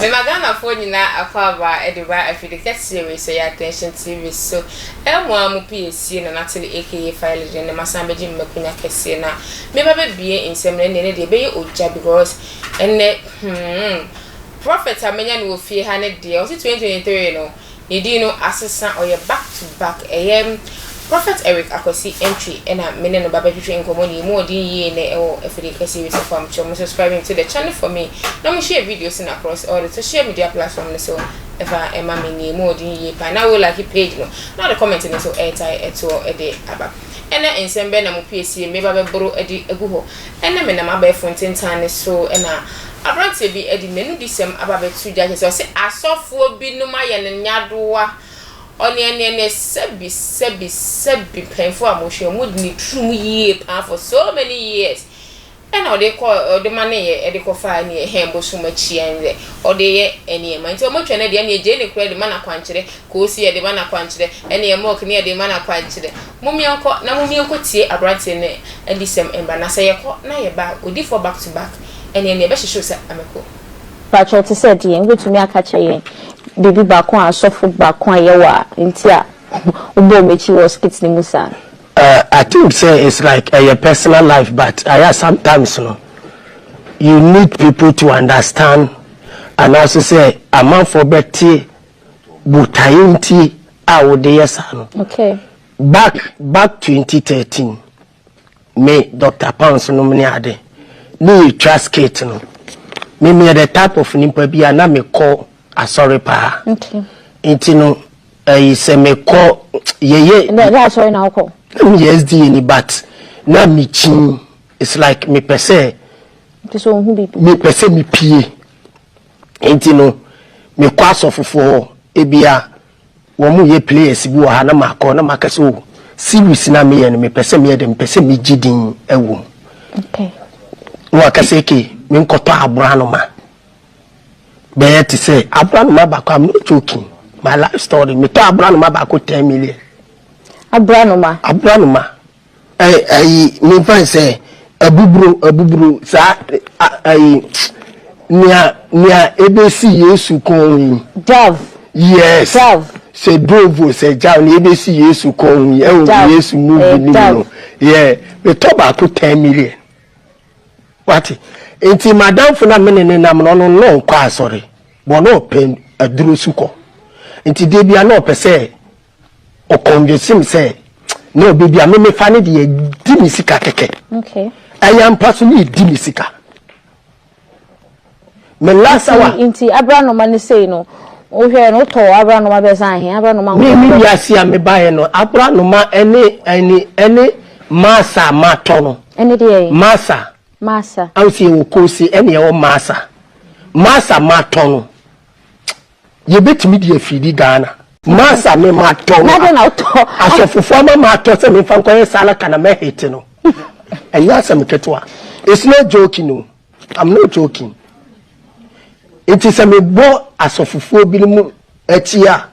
Mema Ghanafoɔ nyinaa akwaaba de ba afide kɛseɛ wei sɛ yɛ Attention TV so mo ara mo pii asie Nanatele aka Fayele deɛ nnɛ masan bɛgye me makunya kɛseɛ na meba bɛbue nsɛm no ɛnneɛ ne deɛ ɛbɛyɛ ogya because ɛnnɛ hmm Prophet a manya no wɔ fie ha ne deɛ ɔse 2023 no Ne din no asesa ɔyɛ back to back ɛyɛ Prophet Eric Akwasi Antwi ɛna me ne no ba bɛtwetwe nkɔmmɔ ne yɛmu ɔden yie nɛ ɛwɔ Afidie Kɛseɛ Wei Sɛfo a mokyerɛ mo subscribing to the channel for me na mo share videos no across all the social media platform no so ɛfa ɛma me ne yɛmu ɔden yie paa na wo like page no na ɔde comment no so ɛtae ɛtoɔ ɛde aba ɛna nsɛm bɛn na mo pie sie me ba bɛboro ɛde agu hɔ ɛna menam abɛɛfo ntentan ne so ɛna Aberanteɛ bi de m'anudisɛm aba abɛto gya kyerɛ sɛ ɔse asɔfoɔ binom ayɛ no nyadoa, ɔneɛneɛneɛ, sɛbi sɛbi sɛbi mpanyinfoɔ a mohwɛ wɔn di ne turum yie paa for so many years ɛna ɔde kɔ ɔde ma ne yɛ ɛde kɔ fa ɛne ɛhɛn bosom akyi ɛnɛ ɔde yɛ nneɛma nti wɔn twɛ no deɛ ɛne ɛgye ne kura de ma na kwankyerɛ koosi yɛ de ma na kwankyerɛ ɛne ɛmɔk ne yɛ de ma na kwankyerɛ momiɛnkɔ na momiɛnkɔ tie aberanteɛ no adisɛm mba na sɛ yɛkɔ na yɛba odifoɔ back to back. Ɛnneɛ nea ɛbɛhyehye wo sɛ ameko. Pakyɛw te sɛ deɛn? Wobɛtumi aka akyerɛ yɛn biribi baako a asɔfo baako a yɛwɔ a nti a wobɔɔ wɔn akyi wɔ skit no mu saa? Ahh I think sɛ it's like ɛyɛ personal life but ayɛ a sometimes no you need people to understand anaase sɛ amanfoɔ bɛte botaeɛ nti a wode yɛ saa no. Okay. Back back twenty thirteen Me Doctor Pounds nom ne ade ne yɛtwa skit no me meyɛ the type of nipa bi a na mekɔ asɔre paa nti no ɛyi sɛ mekɔ yɛyɛ na meyɛ SDA ni but na mekyin it's like mepɛ sɛ mepɛ sɛ mepie nti no mekɔ asɔfofoɔ hɔ ebia Wɔn yɛ players bi wɔ ha na makɔ na maka sɛ oh series na meyɛ no mepɛ sɛ meyɛ dɛ mepɛ sɛ megye din wɔ mu na waka sɛ ke menkɔtɔ aboranoma bɛyɛ te sɛ aboranoma baako I'm not joking my life story metɔ aboranoma baako ten million aboranoma aboranoma Ɛɛ ayi mefa no sɛ abuburo abuburo saa a ayi nea nea ebesi Yesu kɔn ho yi. Dove. Yes. Dove. Sɛ dove sɛ jav nea ebesi Yesu kɔn ho yi ɛwɔ Dove. Yesu Eh, movie no mu dove. no yɛ metɔ baako ten million wate nti madamfo na mene ne nam no ɔno no ɔnkɔ asɔre bɔ na ɔpɛ aduro su kɔ nti da bia na ɔpɛ sɛ ɔconvince me sɛ na baabi a me mefa no deɛ di me sika kɛkɛ ɛyɛ ampa so ne ɛdi me sika me last hour nti abranoma no sei no wohwɛ no wotɔ abranoma bɛsa ahe abranoma me me wiase a mebaeɛ no abranoma ɛne ɛne ɛne masa a matɔ no ɛne deɛ masa masa awo sɛ ɛwɔ kose ɛne ɛwɔ masa masa matɔ no Yɛbɛtumi de afiridi Ghana. Masa me ma tɔ no a asɔfofoɔ ama ma tɔ sɛ memfa nkɔyɛ salaka na mɛ hit no ɛnyɛ asɛm ketewa it's not joking o I'm not joking nti sɛ mebɔ asɔfofoɔ binom akyi a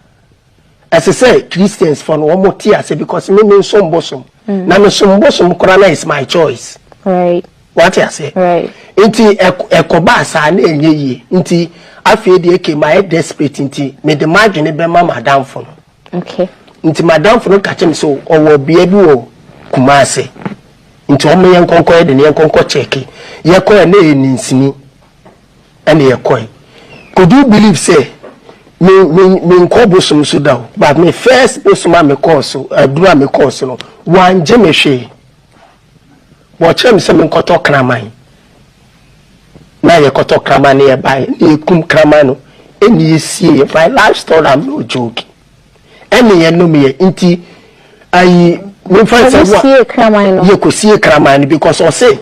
Ɛsɛ sɛ Christians fɔ no wɔn te ase because me me nsom bosom mm. na me som bosom koraa na it's my choice. Right. Wate ase. Right. Nti ɛkɔba asaa na ɛnyɛ yie nti afei deɛ ke ma yɛ desperate nti me de ma adwene bɛma ma adanfo no. Okay. Nti ma adanfo no kakyɛ me so ɔwɔ bea bi wɔ Kumasi nti wɔn yɛ nkɔnkɔ yɛ de ne yɛ nkɔnkɔ kyɛke yɛ kɔ yɛ na yɛ ninsini. Ɛna yɛkɔe. Could you believe sɛ me me menkɔ bosom so da o but me first bosom a mekɔɔ so aduru a mekɔɔ so no wɔangye me hwee. Wɔkyerɛɛ me sɛ menkɔtɔ kraman na yɛkɔtɔ kraman na yɛbaeɛ na yɛkum kraman no ɛna yɛsiee yɛn fire life story I'm not joking. Ɛne yɛ nom yɛ nti ayi mefa sɛ wo yɛ kɔ sie kraman no because ɔse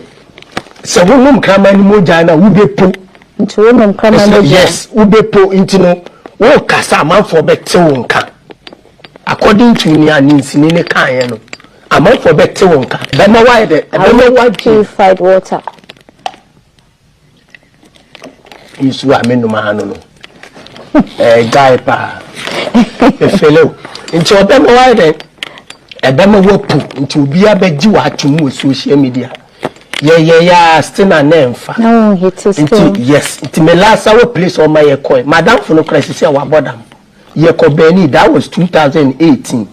sɛ wo nom kraman no mu gya na wo bɛ po nti wo nom kraman no gya yes wo bɛ po nti no wo kasa amanfoɔ bɛ te wo nka according to ni aninsini ne kan yɛ no amanfoɔ bɛ te wo nka bɛma wa yɛ dɛ bɛma wa purified water nsuo a menom aha no no ɛgyae eh, paa ɛfele o nti ɔbɛma wayɛ dɛn ɛbɛma wapu nti obiara bɛgye w'atom wɔ social media yɛyɛyɛ ase na na ɛmfa nti yes nti me last hour place ɔma yɛkɔe madamfo no kora sisi a wabɔ dam yɛkɔ bɛni that was 2018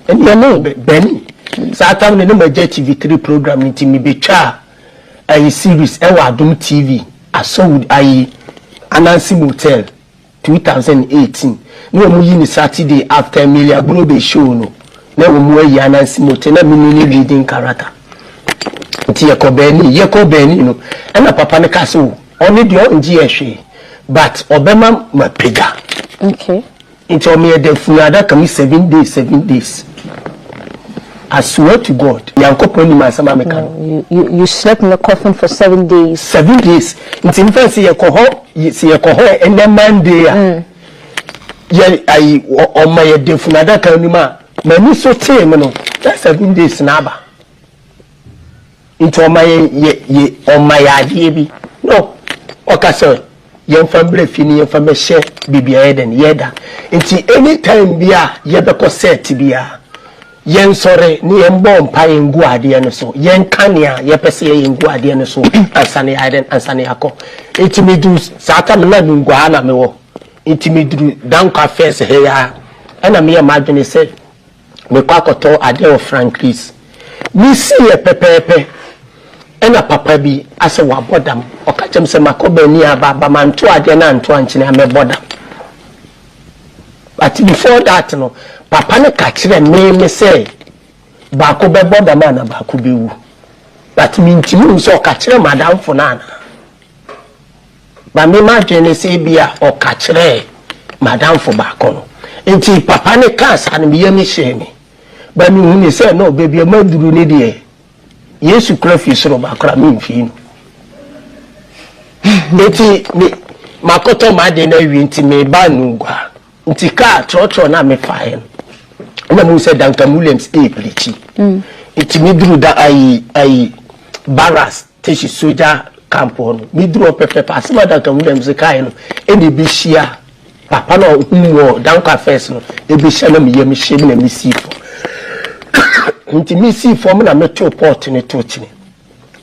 ɛne bɛni saa tam no ne magya tv3 program nti mebɛtwaa ayi series wɔ Adom TV asɔwod ayi Ananse Motel two thousand and eighteen na ɔmo yi no Saturday after Emily Agbrobe show no na ɔmo ayi Ananse Motel na me ne ne leading character nti yɛ kɔ Berlin yɛ kɔ Berlin no ɛna papa no ka sɛ o ɔno deɛ ɔngye yɛ hwee but ɔbɛma ma pagya. Okay. Nti ɔmo yɛ dɛ funu adaka mu seven days seven days I swear to God Nyankopɔn nim asɛm a meka no. You you slept in the coffin for seven days. Seven days nti nfa nsi yɛkɔ hɔ sɛ yɛkɔ hɔ ɛnɛ Monday a yɛ ayi ɔma yɛ dɛ funu adaka no mu a m'ani so tee me no na seven days na aba. Nti ɔma yɛ yɛ yɛ ɔma yɛ adeɛ bi no ɔka sɛ yɛnfa mbrɛ fie no yɛnfa mɛhyɛ baabi a yɛdɛn yɛda nti any time bi a yɛbɛkɔ set biara yɛnsɔre na yɛnbɔ mpaeɛ ngu adeɛ no so yɛnka nea yɛpɛ sɛ yɛyɛ ngu adeɛ no so ansa na yɛayɛ dɛn ansa na yɛakɔ nti meduru saa tam na menguaa na mewɔ nti meduru dankwa fɛs hɛ ya ɛna meyɛ m'adwene sɛ mekɔ akɔtɔ adeɛ wɔ Frankry's. Mesiiɛ pɛpɛɛpɛ ɛna papa bi asɛ wabɔ dam. Ɔka kyerɛm sɛ makɔ bɛani aba aba manto adeɛ no anto ankyene a mɛbɔ dam. But before that no papa no ka kyerɛ meme sɛ baako bɛbɔ dam ana baako bɛwu. But mentimi nhu sɛ ɔka kyerɛ madamfo no anaa. Ma me m'adwene ne sɛ ebia ɔka kyerɛɛ m'adamfo baako no. Enti papa no kaa saa no, me yam hyee me. But mehunii sɛ no, baabi a maduru no deɛ, Yesu kora fi soro ba koraa memfii no. Enti me, makɔtɔ m'ade no awie nti meba no gua. Nti kaa trɔtrɔ no a mefaeɛ no, na mehu sɛ Duncan Williams ɛreprikyi. Nti meduru da ayi, ayi, Barras. Teshie sogya camp hɔ no, me duru hɔ pɛpɛɛpɛ, asem a Duncan Williams kaeɛ no na ɛbɛ hyia, papa no a ɔhum me wɔ Danquah First no, ɛbɛ hyia na me yam hye me na me sii fam, nti me sii fam na me too pot no too kyene,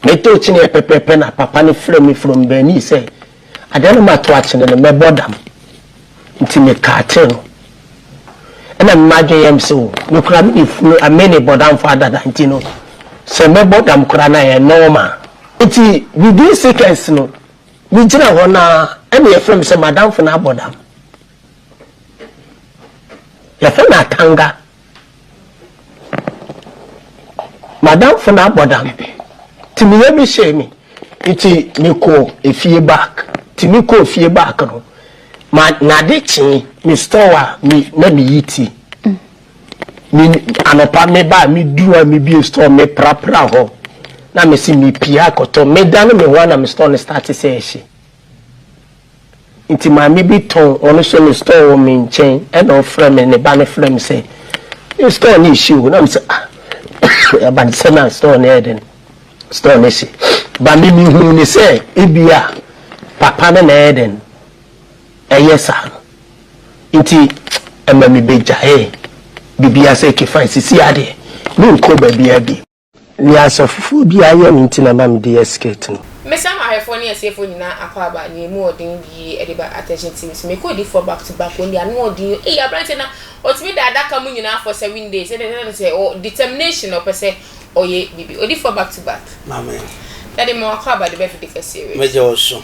me too kyeneɛ pɛpɛɛpɛ na papa no frɛ me from Bernice sɛ, Adeɛ no mato akyene no mɛbɔ dam nti mekaa kyere no ɛna me madwene yɛ me se o me koraa me ne funu a me ne bɔdamfo adada nti no sɛ mɛbɔ dam koraa na yɛ normal. Nti within seconds no me gyina hɔ no ara ɛna yɛfrɛ me sɛ madamfo no abɔ dam yɛfrɛ no Atanga M'adamfo no abɔdam ntsi meyɛ me hyɛɛ me ntsi mekɔɔ efie back ntsi mekɔɔ fie back no ma nade kyee me store a me na meyi ti me anɔpa me baa me duru a me bie store me prapra hɔ na me se me pie akɔtɔ me dane me ho a na me store no starte sɛ ɛhye. Nti maame bi tɔn ɔno nso ne store wɔ me nkyɛn ɛna ɔfrɛ me ne ba no frɛ me sɛ me store no ehye o na me sɛ ah ɛba ne sɛ na store no yɛ dɛn store no ehye ba me me huu ne sɛ ebi a papa no na ɛyɛ dɛn ɛyɛ saa no nti ɛma me bɛ gyaee biribiara sɛ okay fine sisi adeɛ me nkɔ baabiara bi. Nea sɛ foforɔ bi ayɛ no nti na ma mede yɛ skit no. Mɛsam ahwɛfoɔ ne atiefoɔ nyinaa akwaaba nea ɛmu wɔ den yie de ba Attention TV so. Mekɔ odiyifoɔ back to back wɔn deɛ ano wɔ den yie ei aberanteɛ na ɔtumi da adaka mu nyinaa for seven days ɛdeɛ ɛkyerɛ ne sɛ ɔwɔ determination na ɔpɛ sɛ ɔyɛ biribi odiyifoɔ back to back Maame. Daddy ma wakwaaba de bɛ dede kɛseɛ wei. Mɛgya wo so.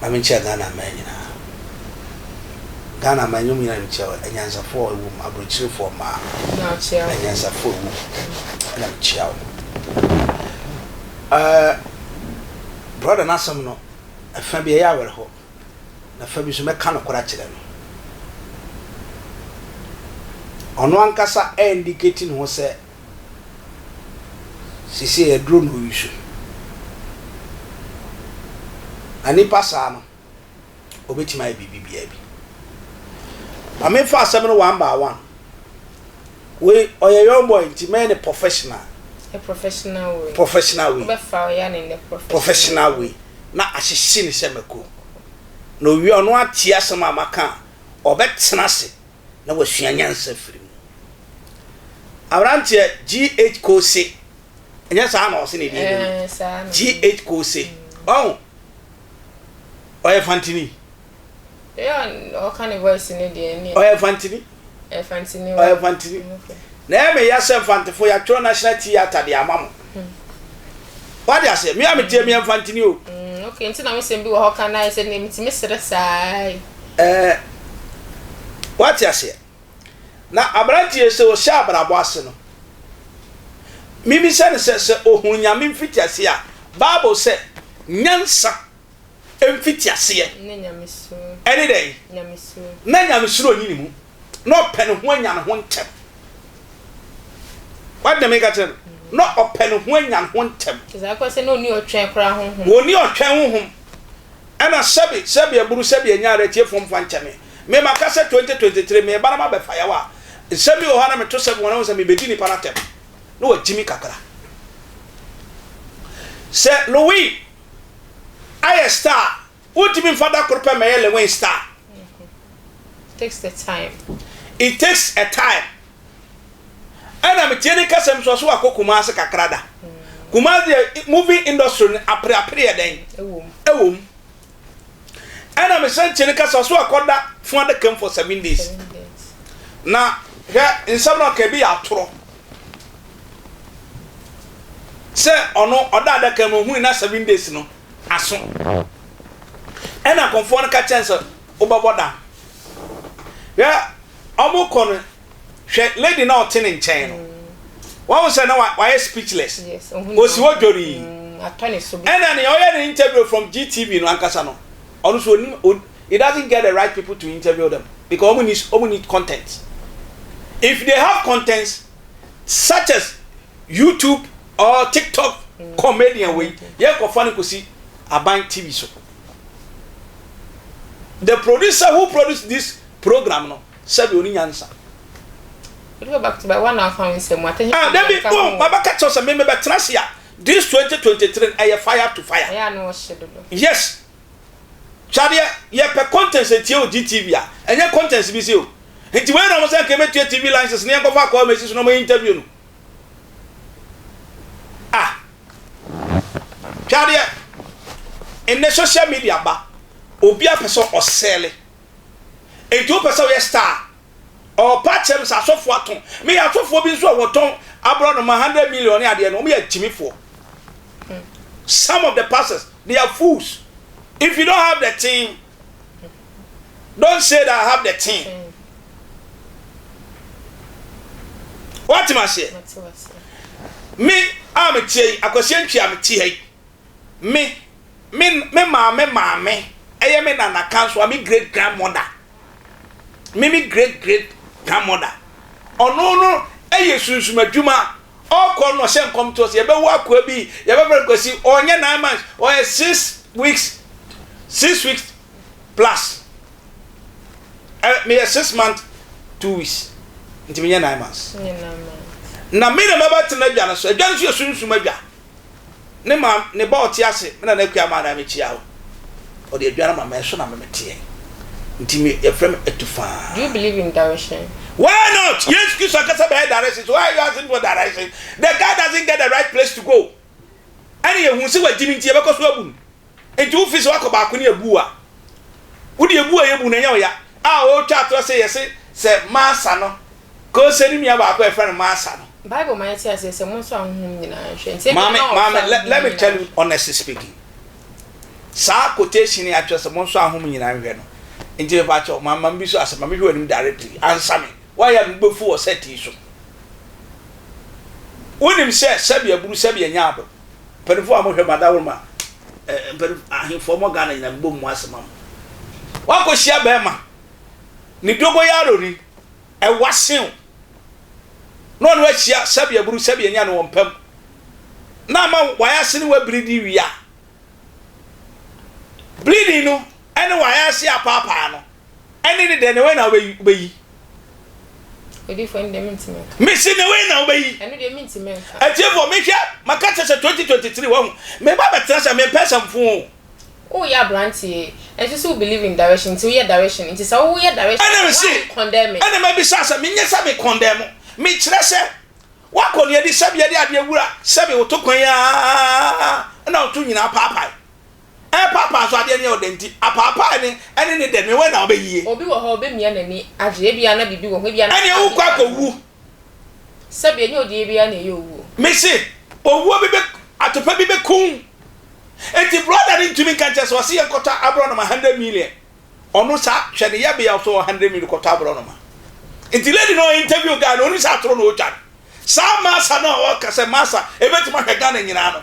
ma menkyia Ghana mmaa nyinaa. Ghana mmaa nnwom nyinaa na mekyia wɔn, anyansafoɔ a wɔwɔ mu, aburokyerefoɔ mmaa, anyansafoɔ a wɔwɔ mu na mekyia wɔn. Ɛɛ brɔda no asɛm no, ɛfa bi ɛyɛ awerɛhoɔ, na ɛfa bi nso mɛka nokorɛ akyerɛ no. Ɔno ankasa ɛndikati ne ho sɛ Seesei aduro na ɔyi so. Na nnipa saa no, wɔbɛtumi ayɛ biribi biara bi. Ma memfa asɛm no one by one. Wei, ɔyɛ young boy nti mɛyɛ no professional. A professional way. Professional way. Wobɛfa ɔyɛ ne nnɛ professional. Professional way. Na ahyehye no sɛ mako. Na ɔwie a, ɔno atie asɛm a maka a, ɔbɛtena ase na wasua nyansa afiri mu. Aberanteɛ G. H. Kose, ɛnyɛ saa na ɔse ne din no? G. H. Kose, ɔho, ɔyɛ Fantini. Ɔyɛ Fantini. Ɔyɛ Fantini. Na ɛyɛ me ya sɛ Mfantefo yɛatwerɛ National Theatre de ama mo. wade aseɛ me a metie me ɛmfa ntini o mm, ok nti na me sɛm bi wɔ hɔ ka na ɛsɛ ne metumi serɛ saa ɛɛ wate aseɛ na aberanteɛ sɛ ɔhyɛ abrabɔ ase no mimi sɛ ne sɛ sɛ ɔhunu nyame mfiti ase a bible sɛ nyansa mfitiaseɛ ne dɛn? Na nyamesuro nni ne mu, na ɔpɛ ne ho anya ne ho ntɛm. Wate deɛ meka kyerɛ no? Na ɔpɛ ne ho anya ne ho ntɛm. Wɔnni ɔtwɛn koraa honhom. Wɔnni ɔtwɛn honhom. Ɛna sɛbi sɛbi aburu sɛbi anyare atiefoɔ mfa nkyɛ me. Me maka sɛ 2023 meba na mabɛfa yaw a nsɛm bi wɔ hɔ a na meto sɛ wɔn ho sɛ mebɛdi nipa no atɛm na wɔagye me kakra. Sɛ Louis ayɛ star a wontumi mfa da koro pɛ mmɛyɛ Lewin star. It takes a time. It takes a time. Ɛna metie ne nkasɛm nso ɔso wakɔ Kumasi kakra da. Kumasi deɛ movie industry no apereapereɛ dɛn? Ɛwom. Ɛwom. Ɛna mesan tie ne nkasa ɔso wakɔ da fun adaka mu for seven days. Seven days. Na hwɛ nsɛm na ɔka ebi yɛ atorɔ. sɛ ɔno ɔda adaka mu ohun na seven days no aso ɛna kɔnfoɔ no ka kyɛn sɛ wobɛbɔ dam hwɛ ɔmo kɔ no hwɛ lady na ɔte ne nkyɛn no wɔn sɛ na wayɛ speechless osi hɔ dwori ɛna nea ɔyɛ ne interview from GTV no ankasa no ɔno so onim He doesn't get the right people to interview them because wɔn nni wɔn nni content. If they have contents such as YouTube or TikTok mm. comedian wei mm. yɛ nkɔfa no kɔsi aban TV so. The producer who produced this program no sɛbi oni nyansa. Olu bɛ back to back wa na afa mi sɛ mu atɛnyi. Ah debi bɔn baba kɛtɛ sɛ mi mi bɛ tena se a this twenty twenty three ɛyɛ fire to fire. Ɛyɛ anu ɔhyɛ dodo. Yes. Hwɛ adeɛ, yɛpɛ contents atie wɔ GTV a, ɛnyɛ contents bi se o. Nti wei na wɔn sɛ anka yɛbɛtua TV license na yɛnkɔfa akɔɔ Mercy so na wɔyɛ interview no. Ah! Hwɛ adeɛ, nnɛ social media aba, obiara pɛ sɛ ɔsɛɛle. Nti wopɛ sɛ woyɛ star a, Ɔpa kyɛm sɛ asɔfoɔ atõ. Meyɛ asɔfoɔ bi nso a wɔtɔn aborɔnoma hundred million ne adeɛ no, wɔyɛ akyimifoɔ. Some of the pastors, they are fools. If you don't have the thing, don't say that I have the thing. Woate m'aseɛ? Me a meteɛ yi, Akwasi Antwi a mete ha yi, Me me me maame maame ɛyɛ me nana kansoa me great grandmother me me great great grandmother ɔno no ɛyɛ sunsum adwuma ɔkɔ no ɔhyɛ nkɔm to ɔsɛ yɛbɛwo akoa bi yɛbɛfrɛ nkwasi ɔnyɛ nine months ɔyɛ six weeks six weeks plus ɛ meyɛ six month two weeks nti menyɛ nine months na me na mɛbɛtena adwa no so adwa no so yɛ sunsum adwa Ne ma ne ba ɔte ase me nana akua ma na me kyia wo ɔde aduane ma me ɛso na me meteɛ nti me yɛfrɛ me atufaa. Do you believe in direction? Why not? Yesu Kristo ankasa bɛyɛ direction so why are you asking for direction? The guy doesn't get the right place to go ɛne yɛhu sɛ wagyi no nti yɛbɛkɔ so abu no. Enti wofi so akɔ baako ne abu a wode abu a yɛbu no ɛnyɛ ɔya a ɔretwa atorɔ sɛ yɛse sɛ Marsa no Kose ne nua baako a yɛfrɛ no Marsa no. Bible ma yɛte aseɛ sɛ monso ahonhom nyinaa nhwɛ nti ebia na ɔrefa ahonhom nyinaa. Maame let me tell you honestly speaking saa quotation yi a kyerɛ sɛ monso ahonhom nyinaa nhwɛ no nti mepa kyɛw ma ma mebiso asɛm ma mehwɛ w'anim directly ansa me why a mebubefu wɔ set yi so wonim sɛ sɛbi aburu sɛbi anya adom. Mpanyinfoɔ a wɔhwɛ ma dawuruma eh, mpanyinfo ahemfoɔ mɔ Ghana nyinaa mbɔ mu ase ma mo. Wakɔ hyia bɛrima ne dogoyaro ni ɛwa sew na ɔne wahyia sɛbi aburu sɛbi anya no wɔn pam na ama wayɛ ase ne wabiri di wia. Bleeding no ɛne wayɛ ase apaapaa no Ɛnne ne deɛ, na wei na wobɛyi. Odifo ɛnde mentumi nka. Mese na wei na wobɛyi. Ɛno deɛ mentumi nka. Atiefoɔ mehwɛ maka kyɛ sɛ 2023 wahu meba bɛtena sɛ mempɛ sɛ mfoo. Woyɛ abranteɛ nso sɛ wo believe in direction nti woyɛ direction nti sɛ woyɛ direction a why are you condemning. Ɛna mabisa sɛ menyɛ sɛ me condemn mekyerɛ sɛ woakɔ neadi sɛbi yɛde adeɛ wura sɛbi woto kwan aa na woto nyinaa paapae. Ɛrepaapae so adeɛ no yɛ wo dɛ nti, apaapae no ne ne dɛ no, wɛn na wobɛyie? Obi wɔ hɔ a ɔbɛmia n'ani agye, ebia na biribi wɔ ho, ebia na Ɛnneɛ wokɔ akɔwu. Sɛbi, ɛnyɛ ɔdeɛ biara na ɛyɛ owuo. Mese, owuo bi bɛ, atopa bi bɛku wo. Enti brɔda no ntumi nka nkyerɛ sɛ, ɔse yɛnkɔtɔ aborɔnoma hundred million, ɔno saa, hwɛ ne yɛbea so wɔ hundred million kɔtɔ aborɔnoma. Nti lady no a ɔinterview guy no, ɔnim sɛ atoro na ɔretwa no. Saa Massa no a ɔka sɛ Massa, ɛbɛtumi ahwɛ Ghana nyinaa no,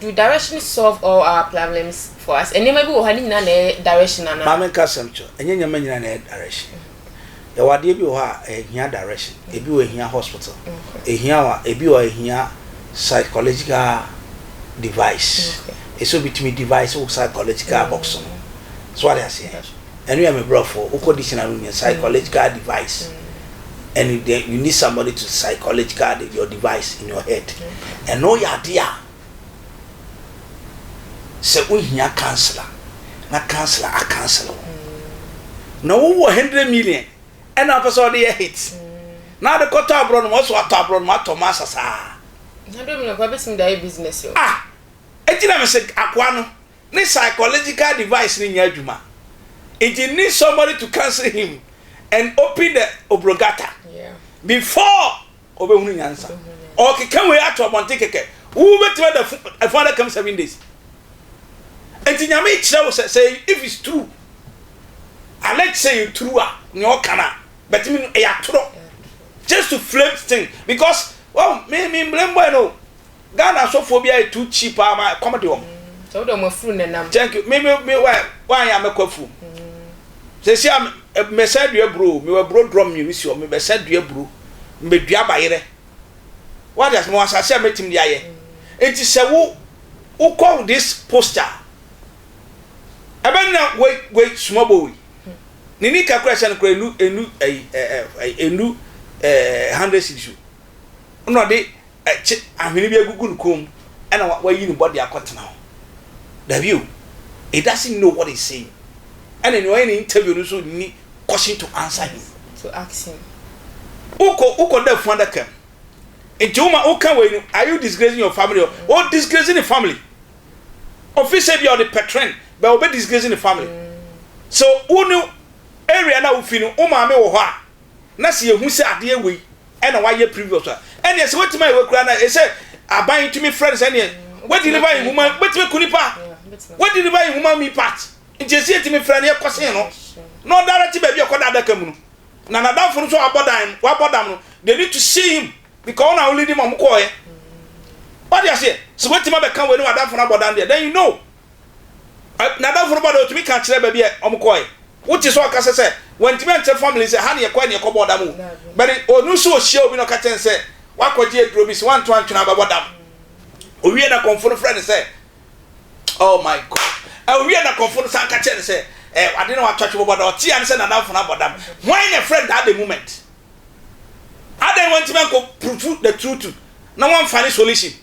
Do direction solve all our plablems for us? Nneɛma bi wɔ hɔ a ne nyinaa na ɛyɛ direction anaa? Maame nka asɛm kyerɛ wo. Ɛnyɛ nneɛma nyinaa na ɛyɛ direction. Yɛwɔ adeɛ bi wɔ hɔ a ɛhia direction. Ebi wɔ ɛhia hospital. Ɛhia wo a, ebi wɔ a ɛhia psychological device. Ɛsɛ sɛ obi tumi device wo psychological box no. So wate aseɛ? Ɛno yɛ me brɔfoɔ. Wo kɔ dictionary wo nya psychological device and then you need somebody to psychological your device in your head. Ɛno yɛ adeɛ a sɛ wo hia counselor na counselor a counsel wo. Na wo wɔ hundred million ɛna apɛ sɛ ɔde yɛ hit na ade kɔtɔ aborɔ no ma ɔsɛ watɔ aborɔ no ma atɔ ma asasaa. Hundred million kɔ abɛtumi de ayɛ business o. Ah! Ɛgyina me sɛ akoa no. ne psychological device no nyɛ adwuma nti need somebody to counsel him and open the obrogata before ɔbɛhunu nyansa. Ɔkeka wei ato abɔnten kɛkɛ. Wobɛtumi ada ɛfo adakam seven days. Nti nyame kyerɛ wo sɛ sɛ if it's true alleged sɛ yɛ true a nea ɔka no a but me no ɛyɛ atorɔ just to flame thing because well me me blame boy no Ghana asɔfoɔ bi ayɛ too cheap paa ma ɛkɔm de wɔn. Sɛ wode wɔn afuru na ɛnam. Thank you. Me me me why why ya mɛkɔ afuom. Sɛsi a mɛsɛn dua buro o, mewɔ aburo drum mmienu si hɔ, mebɛsɛn dua buro, mebɛdua bayerɛ. Wate ase, mewɔ asase a mɛtumi de ayɛ. Nti sɛ wo wokɔ this poster a, ɛbɛ nna wei wei small boy wei. Ne nika kora ɛhyɛ no kora ɛnu ɛnu ɛyi ɛɛ ɛyi ɛnu ɛɛ hundred cedis o. Ɛna ɔde Kye ahwene bi agugu ne kɔn mu ɛna wayi ne bɔde akɔtena hɔ. Dabi o, he doesn't know what he's saying. Ɛna nea ɔyɛ no interview no nso nni question to answer him. To ask him. Wokɔ wokɔ da funu adaka mu. Nti wo ma woka wei no, are you disgracing your family or o disgrace ne family. Ofi sɛ ebia ɔde pɛtrɛn but ɔbɛ disgrace ne family. Sɛ wo ne area no a wofi no wo maame wɔ hɔ a na sɛ yɛhu sɛ adeɛ wei ɛna wayɛ previous a ɛneɛ sɛ watumi ayɛ wakura na ɛsɛ aban tumi frɛ no sɛ neɛ wadeliver nwoma bɛtumi ku nipa wadeliver nwoma mi part nti ɛsɛ yɛtumi frɛ no yɛkɔsen no na ɔdara te baabi ɛkɔda adaka mu no na nadamfo no nso wabɔ dan wabɔ dam no they need to see him because ɔna ɔlidi ma ɔmo kɔɔɛ wade aseɛ sɛ watumi abɛka wei ne wadamfo no abɔ dan deɛ then you know N'adamfo no ba no, otumi ka kyerɛ baabi a wɔkɔe. Wote sɛ ɔkasa sɛ wantumi ankyerɛ family sɛ ha na yɛkɔe na yɛkɔbɔɔ dam o. But ɔno nso ohyiaa obi na ɔka kyerɛɛ no sɛ wakɔgye aduro bi, sɛ wanto antwe no a ɔbɛbɔ dam. Owiee na kɔmfo no frɛɛ no sɛ, Oh my God. Owiee na kɔmfo no san ka kyerɛɛ no sɛ, eh, ade na watɔ atwe bɔbɔ dam. Ɔtee ane sɛ n'adamfo no abɔ dam. Hwan na ɛfrɛ no that the moment? Adɛn na wantumi ankɔ prove the truth na wamfa ne solution?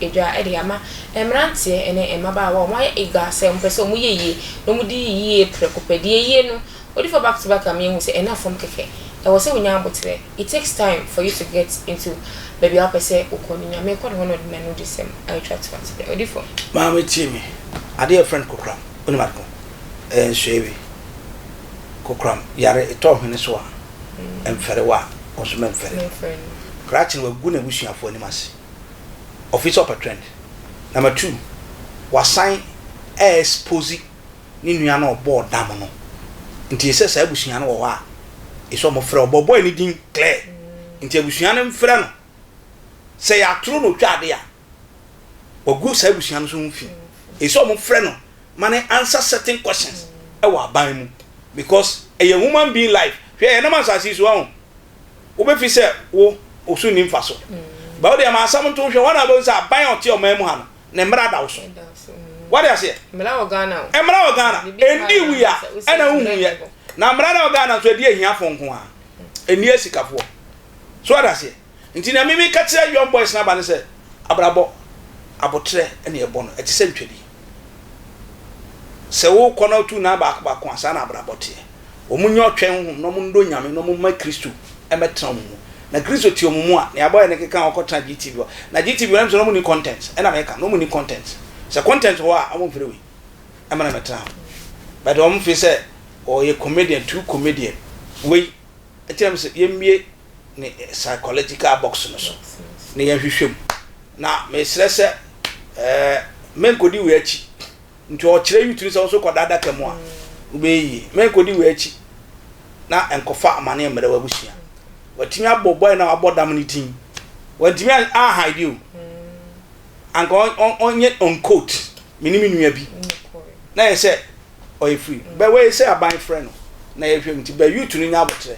Edwa de ama mmeranteɛ ne mmabaawa a wɔayɛ eager sɛ wɔpɛ sɛ wɔyɛ yie na wɔdi yie prɛko pɛ. Deɛ yie no, odifoɔ back to back a meahu sɛ ɛnna fam kɛkɛ. Ɛwɔ sɛ wonya aboterɛ. It takes time for you to get into baabi a wopɛ sɛ wokɔ no. Nyame kɔ ne hɔ na ɔde n'anodisɛm atwa to ase dɛ. Odifoɔ. Maame tie me. Adeɛ yɛfrɛ no kokoram. Wonim ade ko? Ɛyɛ nsoeɛ bi. Kokoram yare, etɔ hwene so a, ɛmfɛre wo a, wo nso mɛmfɛre wo. Krakye no, wagu n'abusuafoɔ anim ase. ɔfiri sɛ ɔpɛ trend number two wasan ɛ expose ne nua na ɔbɔɔ dam no nti ɛsɛ saa abusua no wɔ hɔ a ɛsɛ ɔmo frɛ ɔbɔ boy ne din clear nti abusua no mfrɛ no sɛ yɛatoro na ɔtwa ade a wagu saa abusua no so ho fi ɛsɛ ɔmo frɛ no ma ne answer certain questions ɛwɔ aban mu because ɛyɛ human being life hwɛ yɛnam asase so ahụ wobefi sɛ wo wo so nni mfaso. Ba wo deɛ ma asɛm nto wo hwɛ, wɔn a wɔbɛhu sɛ aban a ɔte ɔman mu ha no, ne mmara da wo so. Wode aseɛ? Mmara wɔ Ghana o. Mmara wɔ Ghana. Ɛndi wui a, ɛna wohuiɛ. Na mmara no a ɛwɔ Ghana nso, ɛdi ahiafoɔ nko ara. Ɛnni asikafoɔ. So wode aseɛ? Nti nea me meka kyerɛ young boys no aba ne sɛ, abrabɔ, aboterɛ na ɛbɔ no, ɛte sɛ ntwadi. Sɛ wokɔ na wotu nan baako baako a, saa na abrabɔ teɛ. Wɔnyɛ ɔtwɛn honhom na wɔnnɔ Nyame na wɔmma Kristo mmɛtena wɔn mu. Na Kristo te wɔn mu a, nea ɛbɔeɛ no keka a wɔkɔtena GTV hɔ. Na GTV hɔ no, ɛmsɛ na wɔnni contents, ɛna meka no, wɔnni contents. Sɛ contents wɔ hɔ a, wɔmfrɛ wei mmra mmɛtena hɔ. But wɔmfeel sɛ wɔyɛ comedian, too comedian, wei. kyerɛ me sɛ yɛmmue ne psychological box no so na yɛnhwehwɛ mu na mesrɛ sɛ ɛɛ menkɔdi wei akyi nti ɔkyerɛ yi tumi sɛ wo so kɔda adaka mu a wobɛyɛ yie menkɔdi wei akyi na nkɔfa amane mmerɛ w'abusua watumi abɔ bɔe na wabɔ dam no din wantumi anhaide o anka ɔnyɛ ɔnkot me ne me nua bi na yɛ sɛ ɔyɛ firi mm. bɛ wei sɛ aban frɛ no na yɛhwɛ mu nti bɛ youth no nya abotrɛ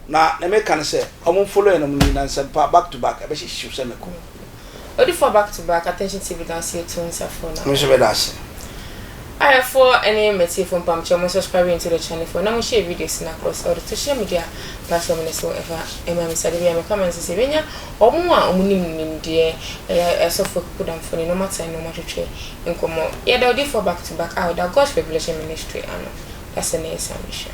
na na meka no sɛ ɔmo follow no mu na nsɛmpa back to back ɛbɛhyɛ hyew sɛ mɛkɔ mm. odifoɔ back to back attention tv da ase etu nsa fo na mehyɛ bɛda ase ayɛfoɔ ɛne mɛtiefo mpamkyɛ mo subscribe into the channel for na mo share videos na across all the social media platform ne so ɛfa ɛma me sade bia meka ma nsɛ sɛ bɛnya ɔmo a ɔmo nim nimdeɛ ɛyɛ ɛsɔfoɔ kukudamfoɔ ne nɔmata ne ɔmo atwetwɛ nkɔmmɔ. Yɛda odiyifoɔ back to back a ɔda God's Revelation Ministry ano ase no nsa nhyira.